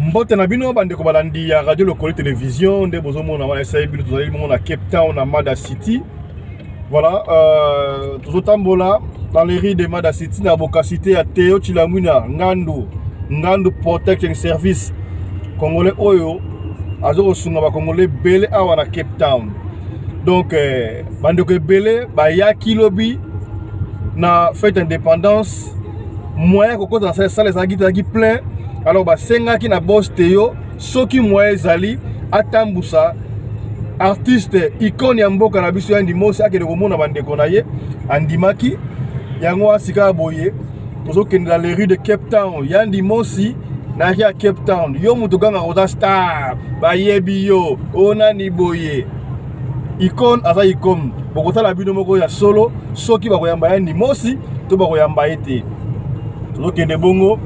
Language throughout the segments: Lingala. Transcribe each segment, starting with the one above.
mbote na bino bandeko balandi ya radio lokoli television nde bozomona wana esai bino tozali bongo na cape town na mada city Voilà, euh, tozotambola dans les rues de Mada City na bokasite ya Theo Chilamwina Ngandu Ngandu Protection Service Congolais oyo azo kosunga ba Congolais bele awa na Cape Town. Donc euh, bandeko ebele bayaki lobi na fête indépendance moyen kokota na sala ezalaki ezalaki plein alors basengaki na boss Theo soki moyen ezali atambusa artiste icone ya mboka na biso ya ndimosi akende komona bandeko na ye andimaki yango wana sikawa boye tozokende na le rue de cape town ya ndimosi na ya cape town yo moto gangaka oza star bayebi yo onani boye icone aza icone bokotala bino moko ya solo soki bakoyamba ya ndimosi to bakoyamba ye te tozokende bongo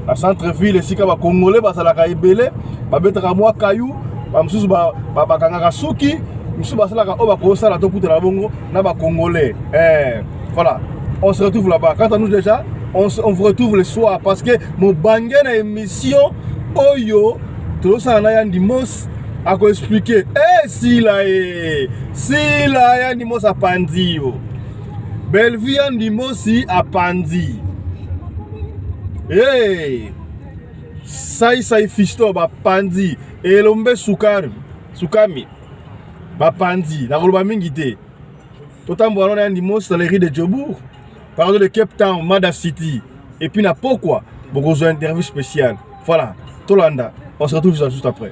na centre ville esika bacongolais bazalaka ebele babetaka mwa kayu bamosusu bakangaka suki misusu basalaka oyo bakosala tokutana bongo na bacongolais eh, voilà on se retrouve là-bas quant à nous déjà on, on vous retrouve le soir parce que mobange na émission oyo tozosala na ya ndimos akoexplike e eh, sila e sila ya ndimos apanzi yo Bellevue ya ndimosi apanzi hey! saisai fisto bapanzi elombe sukari sukami bapanzi nakoloba mingi te totambola lona ya ndimosi na lerie de jobourg pardo de cape town mada city epuis na pokwa bokozwa interview spéciale voilà tolanda on se retrouve juste après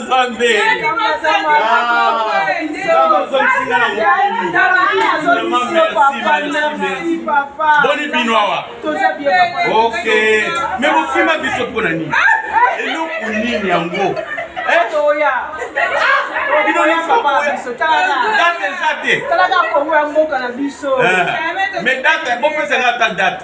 Nzambe boni bino awa ok me bofima biso mpo na nini eloko nini yango bino nyonso date eza te me date bopesa nga ata date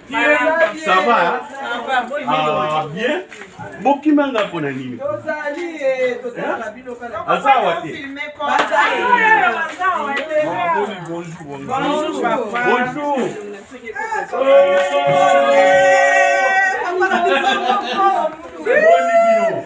Ça va Ah bien bokima nga mpo na nini aza awa te bonjour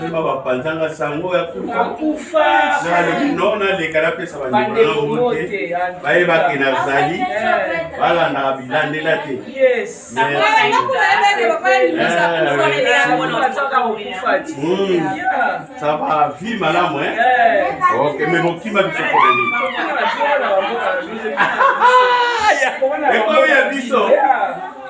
keba bapanza nga sango ya kufa nalobi no naleka napesa bandeko nango te bayebake nazali balandaka bilandela te saba vi malamu ok me bokima biso poleli ekomi ya biso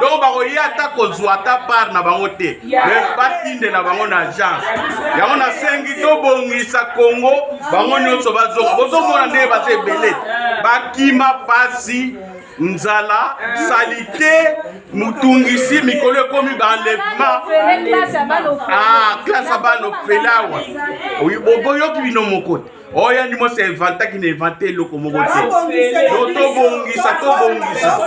donc bakoya ata kozwa ata part na bango te me batindela bango na agence yango nasengi tobongisa kongo bango nyonso bazonga bozomona ndenge baza ebele bakima pasi nzala salite mutungisi mikolo ekomi baenlèvement classe ya bana ofele awa boyoki bino moko te oyo oh, andimo se evantaki na evante eloko moko te tobongisa tobongisa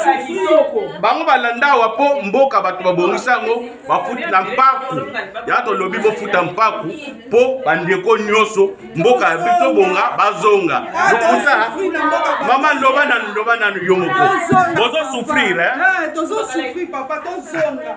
bango balanda awa mpo mboka bato babongisa yango bafuti na mpaku ya tolobi bofuta mpaku mpo bandeko nyonso mboka ya biso bonga bazonga lokuta mama loba nanu loba nanu yo moko bozosufrire eh? eh,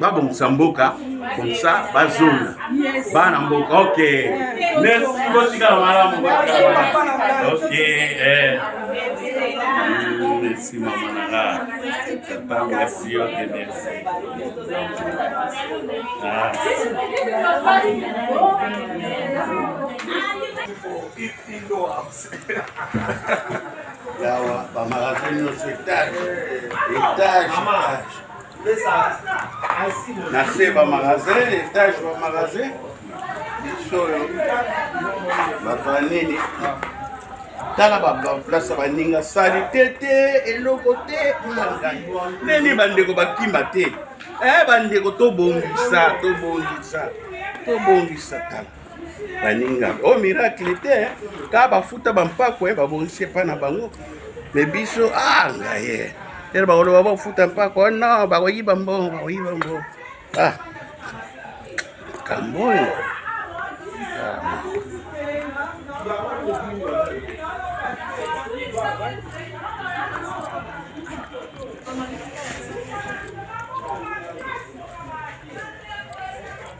babongisa mboka comme ça bazonga bana mboka ok merci botikala malamu ok eh. merci mama nanga tata merci yo te merci ah. yawa bamarase nyonso etage etage na se bamagasin etage bamagasin bisoyo bato ya nini tala baplace baninga salite te eloko te nini bandeko bakima te e bandeko tobongisa tobongisa tobongisa tala baninga o oh, miracle te eh. ka bafuta bampako eh, babongisi epai na bango me biso ah ngaye ere bakoloba bafuta mpako oh, no bakoyiba mbongo bakoyiba mbongo ah kambo oyo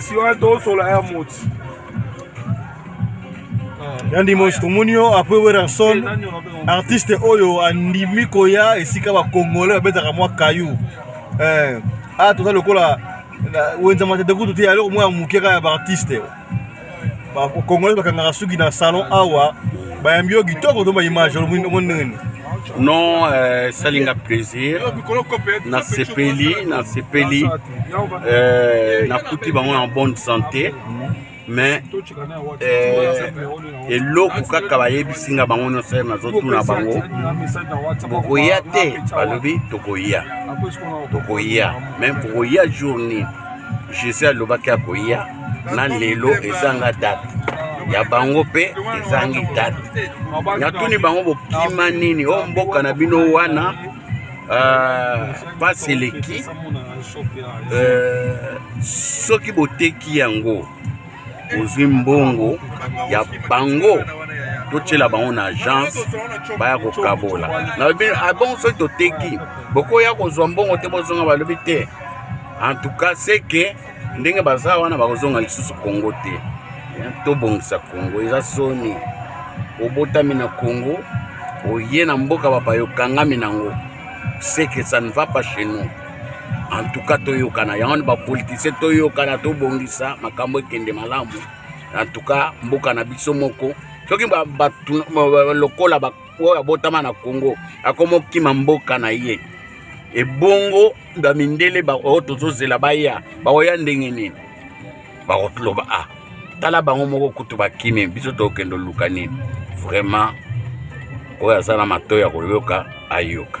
Senhora do Solar é muito. yandi mosi tomoni yo apres wererson artiste oyo andimi koya esika bakongole babetaka mwa kayu eh, a ah, toza lokola wenza matete kutu te eloko moko ya moke kaka ya baartiste bakongolais bakangaka suki na salon awa bayambi yo kitoko to baimage omoni ndenge nini non euh, esalinga plaisir nasepeli nasepeli euh, nakuti bango na bonne santé mais eh, eloko kaka bayebisi nga bango nyonso ye nazotuna bango bokoya te balobi tokoya tokoya mais bokoya jour nini jésus alobaki akoya na lelo ezanga date ya bango mpe ezangi date natuni bango bokima nini o mboka na bino wana mpasi euh, eleki euh, soki boteki yango ozwi mbongo ya bango totyela bango na agence baya kokabola nalobi abongo ah soki toteki bokoya kozwa mbongo te bozonga balobi te en tout cas seke ndenge baza wana bakozonga lisusu congo te tobongisa congo eza soni obotami na congo oye na mboka bapayo okangami nango ce que ça ne va pas chez nous en tout cas toyokana yango ni bapolitisien toyokana tobongisa makambo ekende malamu en tout cas mboka na biso moko soki lokola oyo abotama na congo akoma okima mboka na ye ebongo ba mindele ba oyo oh, tozozela baya bakoya ndenge nini bakoloba a ah, tala bango moko kutu bakimi biso tokende oluka nini vraiment oyo aza na matoi ya koyoka ayoka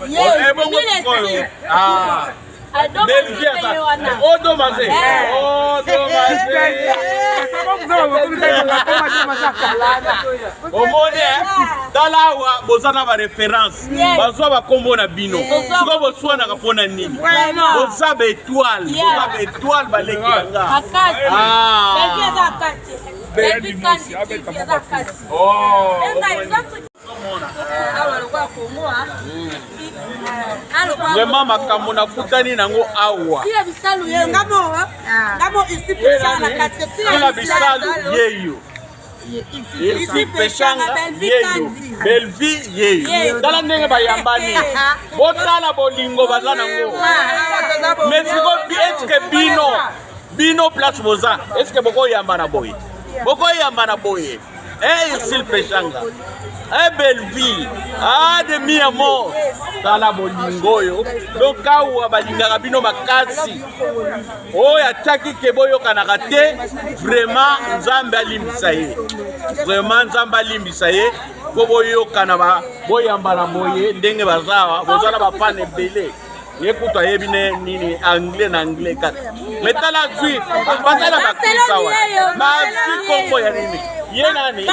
ebongo sikoyo odomaze omoni tala awa boza na bareference bazwa bakombo na bino sikoyo boswanaka mpo na nini boza baetoile boza baetoile baleki banga Baby, that's vraiment makambo nakutani nango awa na bisalu yeyo belvie yeyo tala ndenge bayambani botala bolingo baza nango mais siko eske bino bino place boza eske bokoyamba na boye bokoyamba na boye Hey, eh, Silpe Shanga. Hey, eh, Bellevue. Ah, de mi amor. Tala bolingo oyo. Donc awa balingaka bino makasi. Oyo ataki ke boyokanaka te, vraiment Nzambe alimbisa ye. Vraiment Nzambe alimbisa ye. Po boyokana ba boyambana boye ndenge bazawa, bozala bafana ebele. ye kutu ayebi ne nini anglais na anglais kaka me tala zwi baza na bakisa wa bazwi kombo ya nini ye nani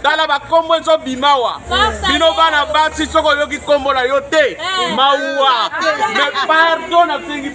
tala bakombo ezobima wa bino bana basi soki oyoki kombo na yo te eh. mauwa me pardo nasengi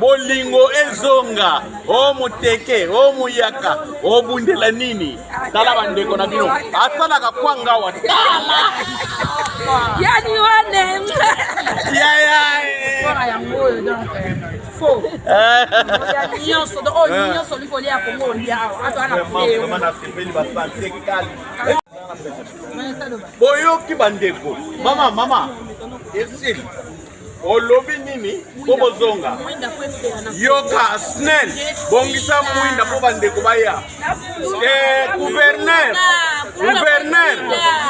bolingo ezonga o moteke o muyaka obundela nini tala bandeko na bino asalaka kwanga wa tala yani wane yaya nyonso oyo nyonso olingi kolia kongo olia boyoki bandeko mama mama esili olobi nini mpo bozonga yoka snel bongisa mwinda mpo bandeko baya guverner eh, guverner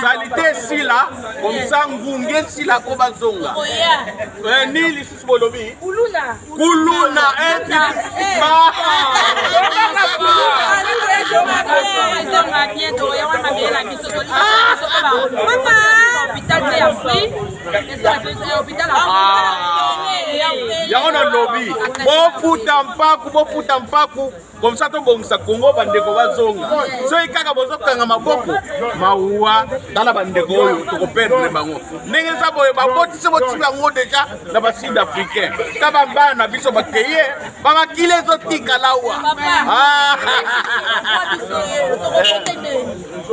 salite esila komisa ngunge esila mpo bazonga eh, nini lisusu bolobi kuluna eti yango na lobi bofuta mpaku bofuta mpaku comme ça tobongisa kongo bandeko bazonga soki kaka bozokanga maboko mawuwa tala bandeko oyo tokoperdre bango ndenge eza boye babotisi botisi bango deja na basud africain ta bambana na biso bakeye bamakili ezotikala wa ah.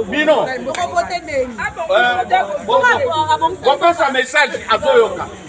bino kopesa eh, message azoyoka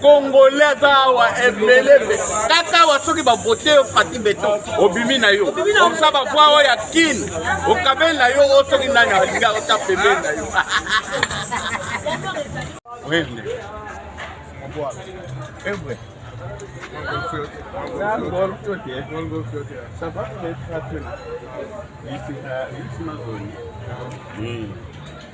congolais aza awa ebele mpe kaka awa soki bavote yo fati beton obimi na yo oza bavoi oyo ya kin okabeli na yo oyo soki nani alinga ota pembeni na yo Wende. Ewe. Ça va, mais ça va. Ici, ici, ma zone.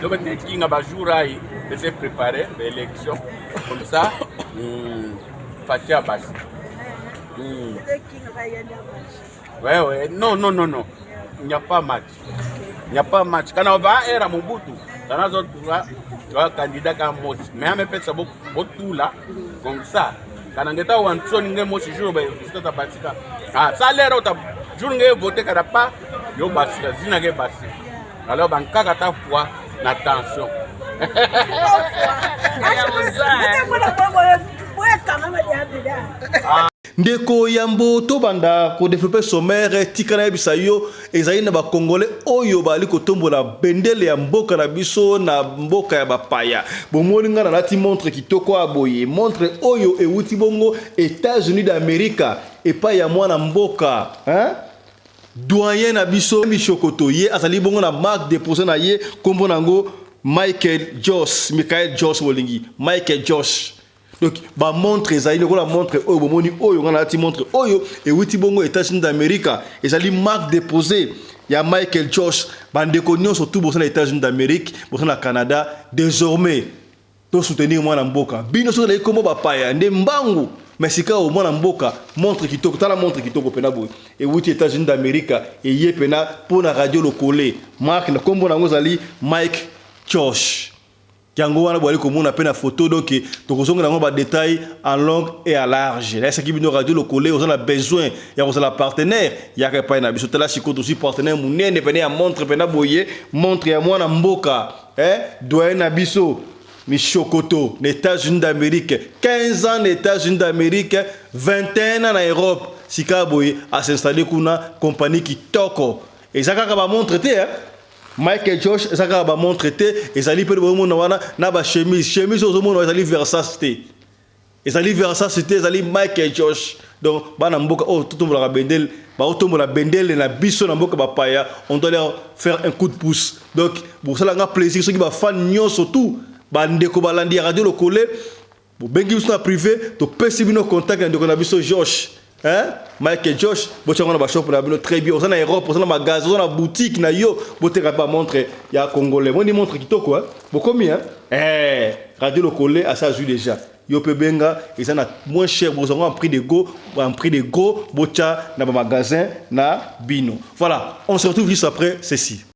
Donc nde kinga ba jour ayi ese préparer ba élection comme ça hmm, Fatshi Abasi. Hmm. Ouais ouais, non non non non. Il n'y a pas match. Il n'y a pas match. Kana ba era Mobutu. Kana zo tura tura candidat ka Mosi. Mais ame pesa bo botula comme ça. Kana ngeta wansoni nge Mosi jour ba résultat ta basika. Ah, ça l'air au jour nge voter kada pas yo basika zina nge basika. alors bankaka ata poids na tension ndeko yambo tobanda kodevelope somere tika nayebisa yo ezali na bakongole oyo bazali kotombola bendele ya mboka na biso na mboka ya bapaya bomoni ngai nalati montre kitoko ya boye montre oyo euti bongo etats-unis d'america epai ya mwana mboka hein? Doyen na biso Mishokoto ye azali bongo na marque de poser na ye kombo na ngo Michael Joss, Michael Joss bolingi, Michael Joss. Donc ba montre ezali lokola montre oyo bomoni oyo nga nalati montre oyo ewiti bongo Etats-Unis d'America, ezali marque de poser ya Michael Joss. Ba ndeko nionso tout boza na Etats-Unis d'Amerique, boza na Canada, desormais To soutenir mwana mboka. Bino soki oleki kombo ba paya nde mbangu mais sikawa mwana mboka montre kitoko tala montre kitoko pena boye ewuti Etats-Unis d'America eye pena po na radio lokole marque na kombo na yango ezali Mike Chosh yango wana boyali komona pe na photo donc tokozongela yango ba detail en longue et à large nayesaki bino radio lokole oza na besoin ya kozala partenaire yaka epai na biso tala sikoyo tozwi partenaire monene pene ya montre pena boye montre ya mwana mboka Eh doyen na biso mishokoto na etats unis d'amerique 15 ans na etats unis d'amerique 21 ans na europe sikawa boye a s'installer kuna compagnie kitoko eza kaka ba montre te eh? Mike Josh eza kaka ba montre te ezali pe bomona wana na ba chemise chemise ozomona ezali Versace te Ezali Versace te, ezali Michael Josh. Donc bana mboka oyo totombolaka bendele, baotombola bendele na biso na mboka bapaya, on doit leur faire un coup de pouce. Donc bosala nga plaisir soki ba fan nyonso tout ba ndeko balandi ya radio lokole bobengi biso na prive topesi bino contact ya ndeko na biso Josh. Hein? Mike Josh, botia ngona ba shop na bino très bien. Oza na Europe, oza na magasin, oza na boutique na yo, boteka ba montre ya congolais. Moni montre kitoko hein. Bokomi hein? Eh, Radio Lokole asa azui déjà. Yo pe benga, eza na moins cher, boza en prix de go, en prix de gros, botia na ba magasin na bino. Voilà, on se retrouve juste après ceci.